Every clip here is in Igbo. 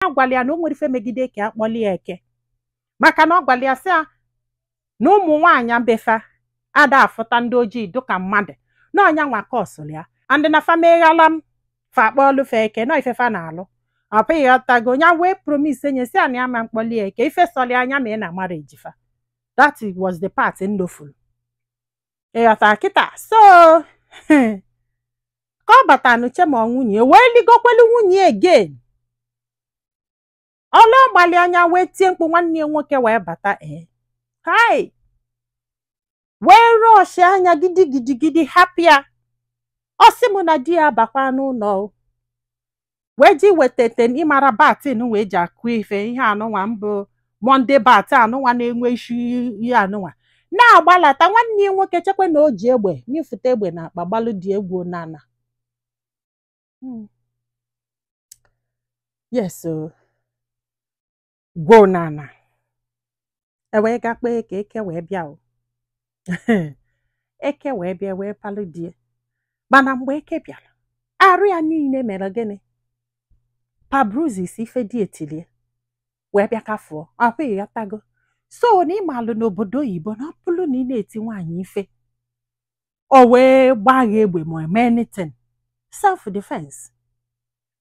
ya gwara ya na o nwere ife megide ka a kpọlie ya eke maka na ọ gwara ya sị ya na ụmụ nwaanyị be fa ada afụta ndị ojii dịka mmadụ na ọ nyanwa ka ọ sụrụ ya and na fa meghala m fa akpọọlụ fa eke na ife fa na-alụ ọ bụ ịghọtago nya wee promise nye sị ya na ya ma mkpọli ya eke ife sọrọ ya nya ma ị na-amara ejifa that was the part ndofuru ịghọta kịta so ka ọ bata n'uche ma nwunye wee ligokwelu nwunye again ọla ọ malị ya nya wee tie mkpu nwanne ya nwoke wee bata ee hai wee rọọshịa nya gidigidigidi hapụ ya ọ sị m na di ya bakwa n'ụlọ wee ji wetete ị mara baton wee ji akụ ife ihe anụnwa mbụ monde bat anụnwa na-enwe isi ihe anụnwa na-agbalata nwanne ya nwoke chekwa na o ji egbe mịfụta egbe n'akpa gbalụ die gwoo n'ala yes o gwoo n'ala e wee ga kpọọ eke eke wee bịa o eke wee bịa wee palụ die mana mgbe eke bịara arụ ya niile mere gịnị pa bruises ife die tilie wee bịa kafụọ ọkwa ịghọtago so na ị malụ n'obodo oyibo na ọ bụrụ na ị na-eti nwaanyị ife o wee gbaa gị egbe ma eme anything self defense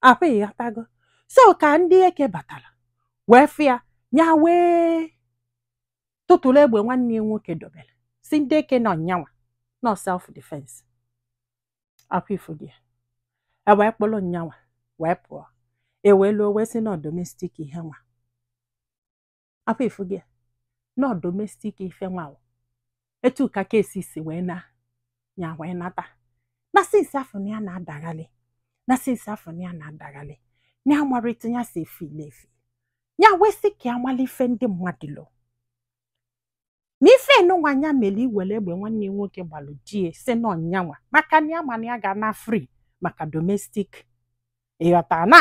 ọ bụ ịghọtago so ka ndị eke batara wee fụ ya wee tụtụrụ egbe nwanne ya nwoke dobere sị ndị eke na ọ nyanwa na ọ self defense ọkwa ị fụgo e wee kpụrụ nyanwa wee pụọ e wee luo wee sị na ọ domestic ihe nwa ọ bụ ị fụgo na ọ domestic ife nwa ọ etu ka case si wee na ya wee nata na since afụ na ya na-adaghalị na since afụ na ya na-adaghalị ya amarọ etu ya si efile efi ya wee sị ka ya mara ife ndị mmadụ lo na ife anụnwa nya mere iwere egbe nwanne ya nwoke gbalụ die sị na ọ nyanwa maka na ya ma na ya ga-ana free maka domestic ịghọta na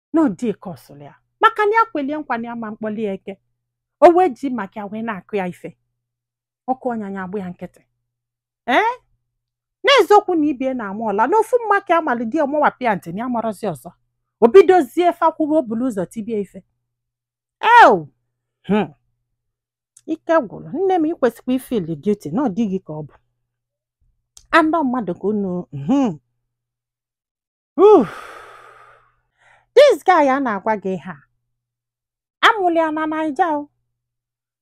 na ọ dịka ọ sụrụ ya maka na ya kwelie nkwa na ya ma mkpọli ya eke o wee ji maka ya wee na-akụ ya ife ọ kụọ nya nya agba ya nkịtị ee n'eziokwu na ibie na-ama ọla n'ofu mma ka a malị di ọ mawapụ ya ntị na ya marọzi ọzọ o bidozie fa kwụwa o bulu ụzọ tibie ife eo hmm. ike gwụrụ nne m ikwesịkwa ifili guilty na ọ dịghị ka ọ bụ andọ mmadụ ka unu hmm. Oof. This guy a na-agwa gị ihe a amụrụ ya na Naija o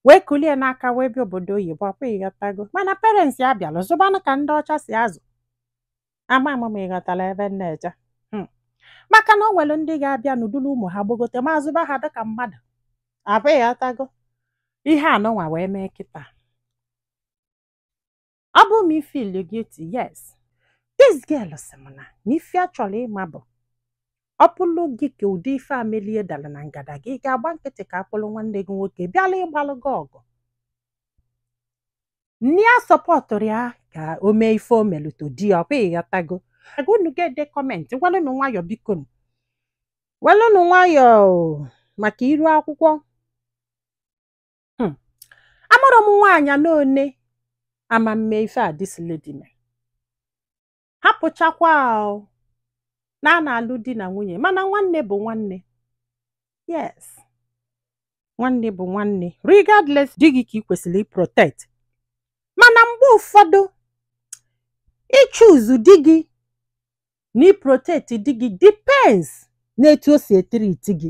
wee kulie n'aka wee bịa obodo oyibo ọkwa ịghọtago mana parents ya bịalụ zụbanụ ka ndị ọcha si azụ nwa ama m ma ịghọtara ebe m na-eje Hmm. maka na o nwere ndị ga-abịanụ dulu ụmụ ha gbogote ma zụba ha dịka mmadụ abụ ịghọtago ihe anụnwa wee mee kịta ọ bụ m ifeel guilty yes this girl sị m na ife a chọrọ ịma bụ ọ bụrụ gị ka ụdị ife a melie dara na ngada gị ị ga-agba nkịtị ka a kpụrụ nwanne gị nwoke bịala ịgbalụ gị ọgụ nne ya supportụrụ ya ka o mee ife o melụ to di ya ọkwa ịghọtago nga unu ga-ede comment welụnụ nwayọ bikonụ. welụnụ nwayọ maka iru akwụkwọ hmm. a mụrụ m nwaanyị na one ama m me ife a this lady me hapụchakwa na a na-alụ di na nwunye mana nwanne bụ nwanne yes nwanne bụ nwanne regardless di gị ka ị kwesịrị ịprotect mana mgbe ụfọdụ ịchoose di gị na ịprotect di gị depends n'etu o si etreat gị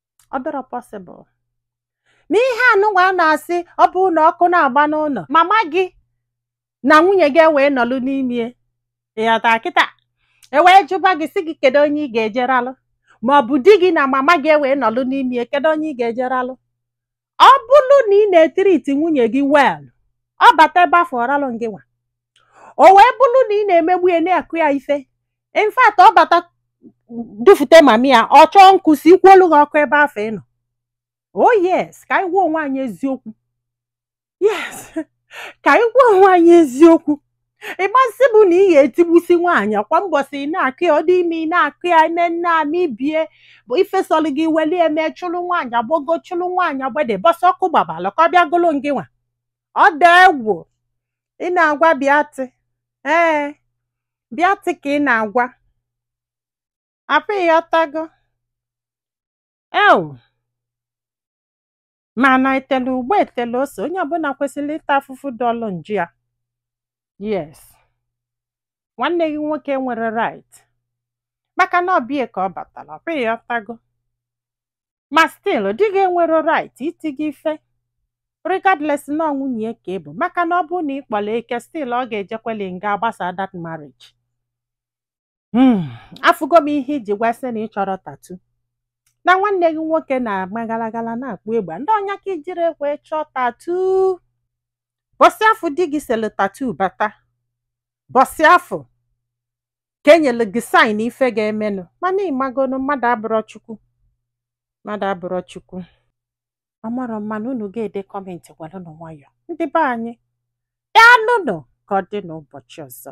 ọ dịrọ possible ma ihe anụnwa a na-asị ọ bụ na ọkụ na-agba n'ụnọ mama gị na nwunye gị ewee nọlụ n'ime ịghọtara kịta ewee jụba gị sị gị kedu onye ị ga-ejeralụ ma ọ bụ di gị na mama gị ewee nọlụ n'ime kedu onye ị ga-ejeralụ ọ bụrụ na ị na-etreat nwunye gị well ọ bata ebe afụ ọ ralụ gị nwa o wee bụrụ na ị na-emegbu ya na-akụ ya ife in fact ọ bata dufute mummy ya ọ chọọ nkụ sikwuolu gị ọkụ ebe afụ ị nọ oh yes ka anyị gwa onwe anyị eziokwu yes ka anyị gwa onwe anyị eziokwu ịgbasị bụ na ị ga-etigbusi nwaanyị kwa mbọsị ị na-akụ ya ọ dị ime ị na-akụ ya ime nne ama ibie bụ ife sọlụ gị weli ya me chụrụ nwaanyị agbogo chụrụ nwaanyị agbede mbọsị ọkụ gbabalụ ka ọ bịa gulu ngị nwa ọ dị egwu ị na-agwa bịatị ee bịatị ka ị na-agwa afụ ịghọtago ewu Mana etele ugba etele ose, onye ọbụla kwesịrị ịta afụfụ dị ọlụ njọ ya. Yes. Nwanne gị nwoke enwero right. Maka na ọbịa ka ọ batara, ọ bụ ịghọtago. Ma still, di gị enwero right iti gị ife. Regardless na ọ nwunye ya ka ị bụ, maka na ọ bụrụ na ị kpọrọ eke still ọ ga-ejekweli nga agbasa that marriage. Hmm, afụgo m ihe iji gwasị na ị chọrọ tatu na nwanne gị nwoke na-agba galagala na-akpụ egbe ndị ọnya ka i jiri wee chọọ tatu bọsị afụ di gị selu tatu bata bọsị afụ ka enyelu gị saịn ife ga-emenụ mana ị magonu mmadụ abụrọ chukwu mmadụ abụrọ chukwu ọ marọ mma nụ unu ga-ede kọmentị gwalụnụ nwayọ ndị be anyị daalụnụ ka ọ dị n'ụbọchị ọzọ